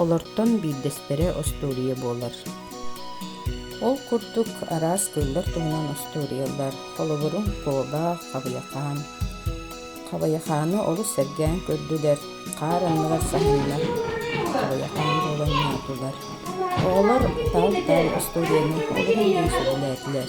Олортон биирдэстэрэ остуоруйа буолар. Ол курдук араас тыллар туһунан остуоруйалар, холобурум, куоба, хабыйахаан. Хабыйахааны олус сэргээн көрдүлэр, хаар анныгар саһаннар хабыйахаан буолан ньаатылар. Оҕолор таал таал остуоруйаны олуһун диэн сөбүлээтилэр.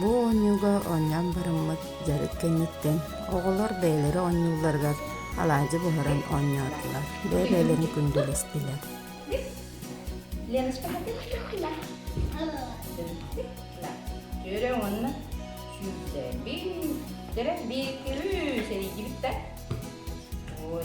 Бу оонньууга оонньоон барыммыт дьарык кэнниттэн оҕолор бэйэлэрэ оонньуулларыгар алаадьы буһаран оонньоотулар, бэйэ-бэйэлэрин күндүлэстилэр. Леночка, түөрэ уонна сүүрдэ бин, төрө биир, үс, эрийдибит да. Ой.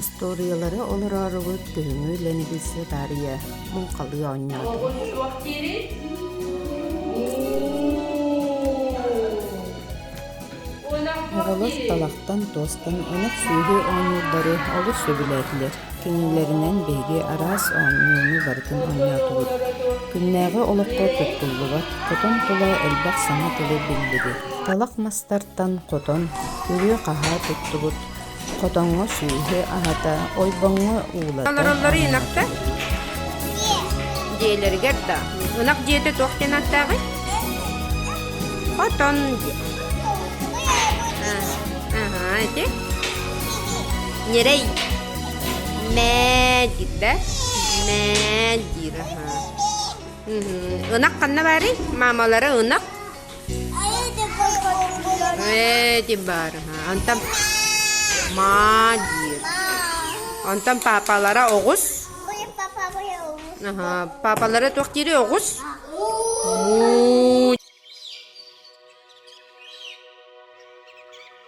Остуоруйалары олороорубут күһүҥҥү лэҥилиси таарыйа муҥхалыы оонньоото. Оҕуруо суох диэри Аҕалар талахтан туостан ынах сүөһү оонньуурдары олус сөбүлээтилэр. Кинилэринэн биһиги араас оонньууну барытын оонньоотубут. Күннээҕи олоххо туттуллубат, хотон тула элбэх саҥа тылы биллибит. Талах мастар аттан хотон үрүө-хаһаа туттубут, хотоҥҥо сүөһү аһата, ойбоҥҥо уулата олороллор инахта дьиэлэригэр да ынах дьиэтэ туох диэн аттааҕый хотон дьиэ аhaa ити ньирэй мээ диир да мээ диир аhaa ынах ханна баарый маамалара ынах этим баарына онтон маа диир онтон папалара оҕус папалара туох диири оҕус муу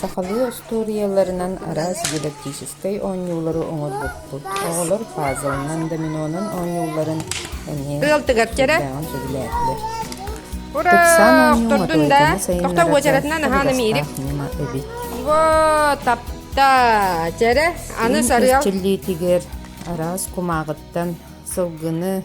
Сахалыы остуоруйаларынан араас дидактическай оонньуулары оҥорбуппут. Оҕолор пазлынан, доминонан оонньуулларын эмиэ сөбүлээҕин сөбүлээтилэр. Ыксаан оонньуума туойдана сайыннарарга ньыма эбит. Во тапта чэрэ аны сарыал. Чиллиитигэр араас кумааҕыттан сылгыны